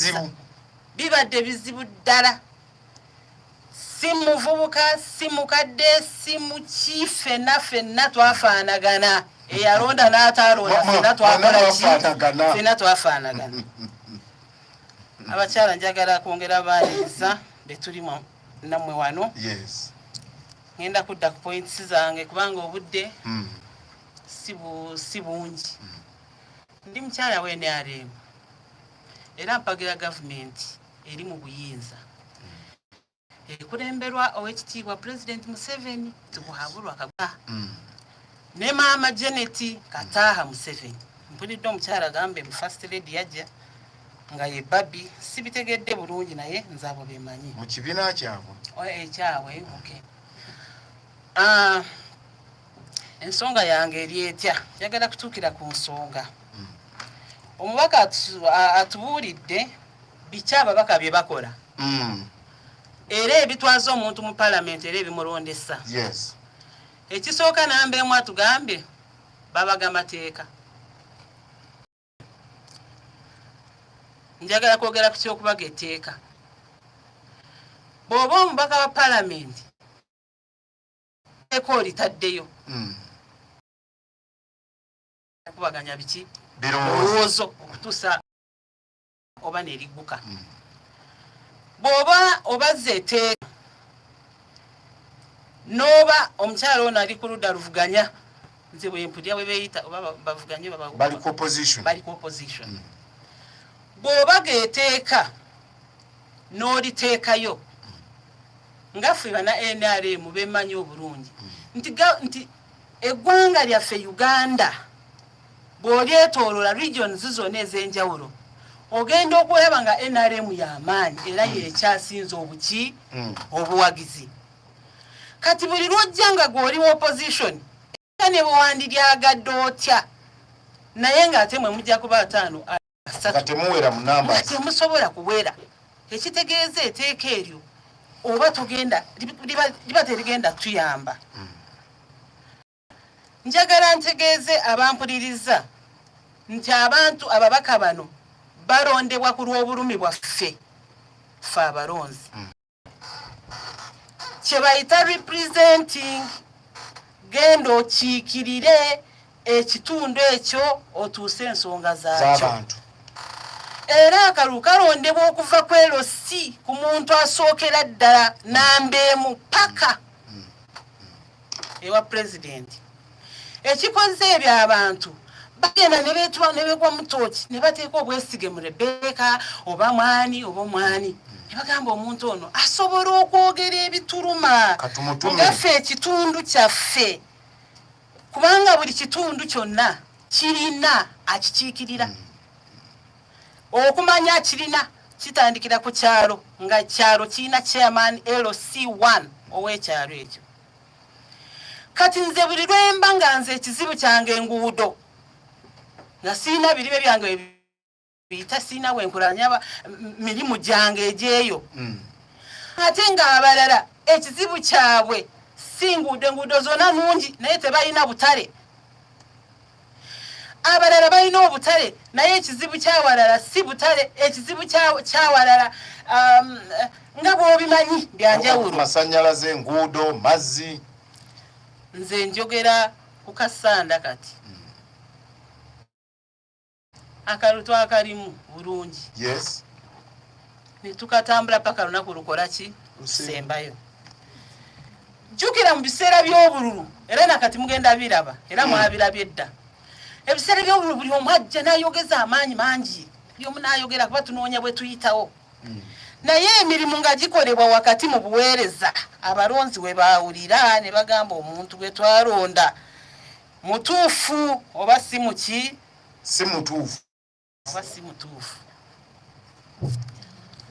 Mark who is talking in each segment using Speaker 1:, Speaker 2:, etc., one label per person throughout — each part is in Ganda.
Speaker 1: bizibu bibadde bizibu ddala si muvubuka si mukadde si muki fenna fenna twafaanagana eyalonda n'ataalonda fenna twakola ki fenna twafaanagana abakyala njagala kwongera baaniriza betuli namwe wano
Speaker 2: ngenda
Speaker 1: kudda ku points zange kubanga obudde hmm. si bungi hmm. ndi mukyala wa nrm era mpagira gavumenti eri mu buyinza ekulemberwa owekitiibwa pulezidenti museveni tikuhabulwa kagwa mm. ne maama janet kataaha museveni mpulidde omukyala agambe mu first lady yajja nga ye babi sibitegedde bulungi naye nze abo bemanyi mu kibiina kyabwe
Speaker 2: ekyabwe eh,
Speaker 1: okay. uh, ensonga yange eri etya njagala kutuukira ku nsonga hmm. omubaka atubuulidde biki ababaka bye bakola hmm. era ebitwaza omuntu mu palamenti era ebimulondesa
Speaker 2: ekisooka
Speaker 1: namba emu atugambye babaga amateeka njagala kwogera ku kyokubaga etteeka bw'oba omubaka wa palamenti eko olitaddeyo hmm. okubaganya biki birowoozo okutuusa oba nerigguka hmm. bw'oba obazza eteeka n'oba omukyala ono ali ku ludda luvuganya nze bwempulya bwe beeyita oba bavuganye bali ku opposition
Speaker 2: bali ku opposition hmm. bw'oba geeteeka n'oliteekayo nga ffe bana nrm bemanyi obulungi nti nti eggwanga lyaffe uganda bw'olyetoolola regions zonna ez'enjawulo ogenda okulaba nga nrm y'amaanyi era hmm. yekyasinze obuki hmm. obuwagizi kati buli lwojja nga gw'oli opposition ne bwewandilyagadde otya naye ng'ate mwe mujja kuba ataano asatemuwera mu namba temusobola kuwera
Speaker 1: ekitegeeza eteeka eryo oba tugenda liba terigenda tuyamba hmm. njagala ntegeeze abampuliriza nti abantu ababaka bano balondebwa ku lw'obulumi bwaffe fe abalonzi hmm. kye bayita representing genda okiikirire ekitundu ekyo otuuse ensonga zaakyo era akalulu kalondebwa okuva ku LC ku muntu asookera ddala namba emu paka ewa pulezidenti ekikoze ebyo abantu bagenda nebetwa nebegwa mutoki nebateeka obwesige mu rebeka oba mwani oba omwani nebagamba omuntu ono asobola okwogera ebituluma ngaffe ekitundu kyaffe kubanga buli kitundu kyonna kirina akikiikirira hmm. okumanya kirina kitandikira ku kyalo nga kyalo kirina chairman lc1 ow'ekyalo ekyo kati nze buli lwemba nga nze ekizibu kyange enguudo nga sirina biribe byange biyita sirina wenkulanya mirimu gyange egyeyo hmm. ate nga abalala ekizibu kyabwe si nguudo enguudo zona nungi naye tebalina butale abalala balina obutale naye ekizibu kyawalala si butale ekizibu kyawalala um, nga bwobimanyi byanjawulo masanyalaze enguudo
Speaker 2: mazzi
Speaker 1: nze njogera ku kasanda kati hmm. akalu twakalimu bulungi yes netukatambula paka lunaku lukola ki lusembayo jukira mu biseera by'obululu era nakati mugenda biraba era hmm. mwabirabye edda ebiseera by'obululu buli omu ajja nayogeza amaanyi mangi buli omu nayogera kuba tunoonya bwe tuyitawo hmm. naye emirimu nga gikolebwa wakati mu buweereza abalonzi we baawulira ne bagamba omuntu gwe twalonda mutuufu oba si muki si mutuufu
Speaker 2: oba si
Speaker 1: mutuufu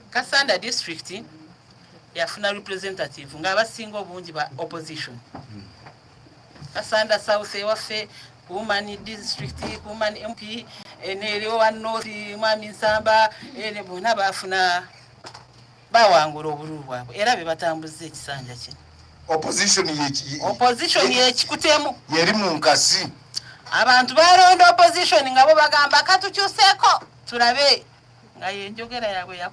Speaker 1: kasanda district yafuna representative nga abasinga obungi ba opposition kasanda south ewaffe kumani district kumani mp eh, nerewa north mwami nsamba eh, bona bafuna bawangula obululu bwabwe era be batambuzza ekisanja kino opposition yekikutemu yeri mu nkasi
Speaker 2: abantu
Speaker 1: balonda opposition nga bo bagamba katukyuseeko tulabe nga
Speaker 2: yenjogera yabwe